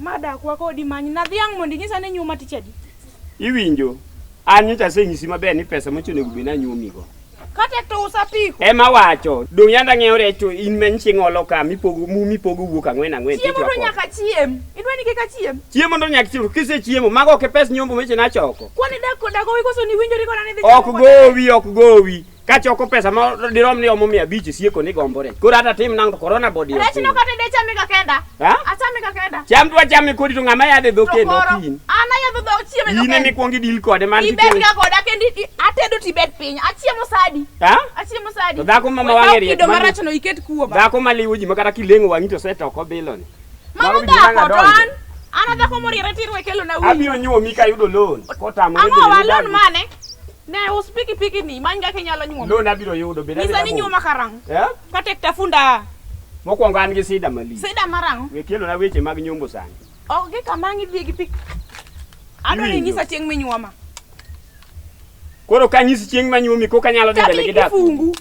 Madak wako odi manyi na dhiang' mondo inyisa ni nyuma tich adi. Iwinjo? An nyocha asenyisi maber ni pesa mochuno onego bed ni anyuomigo. Kata to usapiko. Ema wacho, dong' yanda ng'eyo recho in men chieng' olo ka mipogo mu mipogo wuok ang'wen ang'wen. Chiemo to nyaka chiem. Idwa ni kik achiem? Chiemo ndo nyak chiemo. Kise chiemo, mago ok e pes nyombo meche na choko. Kwani dak koda gowi koso ni winjori koda ni dhi choko Ok koda? gowi, ok gowi. Ka choko pesa ma dirom ni omo mia abich e sieko ni gombore. Koro hata tim nang' to corona body. Rech no kata ide chame ka kenda. Ha? Achame ka kenda. Cham dwa chame kodi to ng'ama yadhe dho kendo Tokoro, ok in. An ayadho dhok chieme no In kenda. emikwongo idil kode man Ibed kikelo. ga koda kendo i- atedo to ibed piny. Achiemo sadi. Ha? Achiemo sadi. To dhako ma ma Wekaw wang'e riek kido ma- marachno iket kuoma. Dhako maliwo ji ma kata kileng'o wang'i to set oko biloni. Mano dhako to an an adhako moriere tirwe kelo na Abiro nyuomi ka ayudo loan. Kotamo Ang'o wa loan mane? Ne us piki piki ni many kaka inyalo nyuomi. Loan abiro yudo beda. Nisa ni nyuoma karang. Eh? Ka tek tafunda. Mokwongo an gi sida mali. Sida marang. We kelo na weche mag nyombo sani. Ok gi kamang' idhi gi pik. Adwaro nyisa chieng' minyuoma. Koro ka nyisi chieng' ma nyuomi kok anyalo dhi mbele gi dak. Kifungu.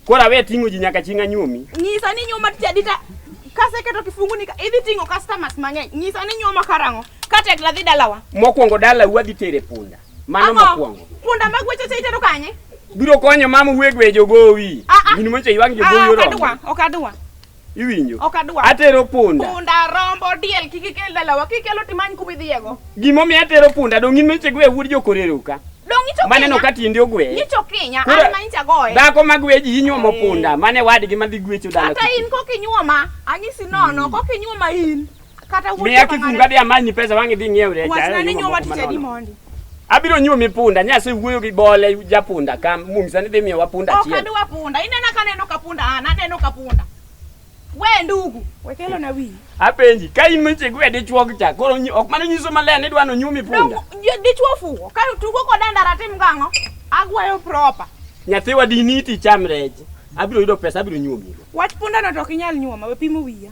Koro awe ting'o ji nyaka chieng' anyuomi. Nyisa ni nyuoma tich adi ta kaseketo kifungu ni idhi ting'o customers mang'eny. Nyisa ni nyuoma karang'o ka tekla dhi dalawa. Mokwongo dala wadhi tere punda. Mano mokwongo. Punda mag weche cha itero kanye? Biro konyo mama uwe gwe jogowi. Ah, ah. Gini mocha ywang' jogowi ah, oromo. Ok adwa, ok adwa. Iwinjo? Ok adwar. Atero punda. Punda, rombo, diel kik ikel dalawa. Kikelo timany kuma idhiyego. Gima omiyo atero punda dong' in meche gwe wuod jokorero ka. Dong' icho Kinya. Maneno ka tiende ogwe. Icho Kinya, Kura, an ma incha goye. Dhako ma gwe ji inyuomo punda, mane wadgi madhi gwecho dala. Kata in kok inyuoma, anyisi nono, kok inyuoma in. Kata wuoyo. Miya kifunga dia manyi pesa wangi dhi ngiew recha. Wachna ni nyuwa tich adi mondi. Abiro nyuwa mi punda, nya se wuoyo gi bole ja punda kam mum sani dhi miyo wa punda chiel. Ok adwa punda. Inena ka neno ka punda an, aneno ka punda. We ndugu, wekelo na wi. Apenji, ka in mche gwe dichwo gi cha, koro ok mano nyiso maler ni dwa no nyumi punda. Dichwo fuwo, ka tugo koda ndara tim gang'o? Agwayo proper. Nyathiwa diniti cham reje. Abiro yudo pesa, abiro nyuomi. Wach punda no to ok inyal nyuoma, we pimo wiya.